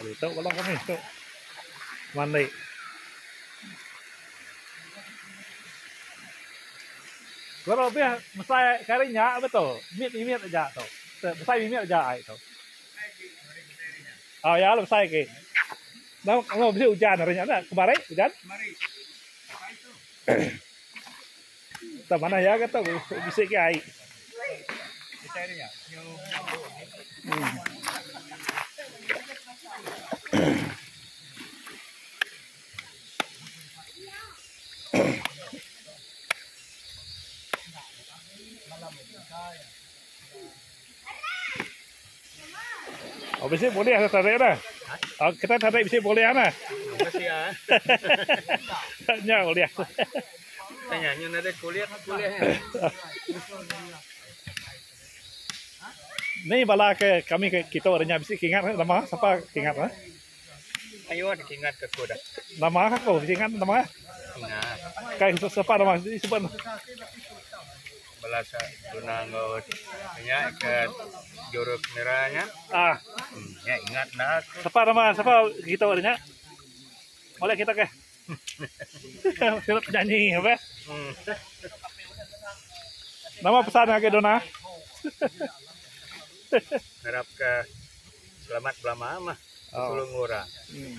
Ditu bala kami tu mandi. Guru bih mesai kari nya beto mit mimit aja tu. Mesai mimit aja ai tu. Au ya mesai agi. Enda bisi ujan ari nya dah. Kemari ujan? Kemari. Pagi tu. Tang manah iya ga tau bisi agi ai. Oh bisi boleh dah tarik dah. Ha? Oh, kita tarik bisi boleh dah. Lah. Bisi ah. Nya boleh. Tanya nyu ada kulit boleh. Ni bala ke kami ke kita orang bisi kingat nama siapa kingat ha? Ayuh deka ingat ke ku dah. Nama aku bisi ingat nama eh. Ingat. Kai sepa nama siti sebut ne. Bala sa tunang enggau nya ke juru kamera nya. Ah. Nya ingat enda aku. Sepa nama sepa kita nya. Molek kita ke. Sirup penyanyi apa? Nama pesan agi Dona? Harap ke selamat belama mah oh. sulung orang. Hmm.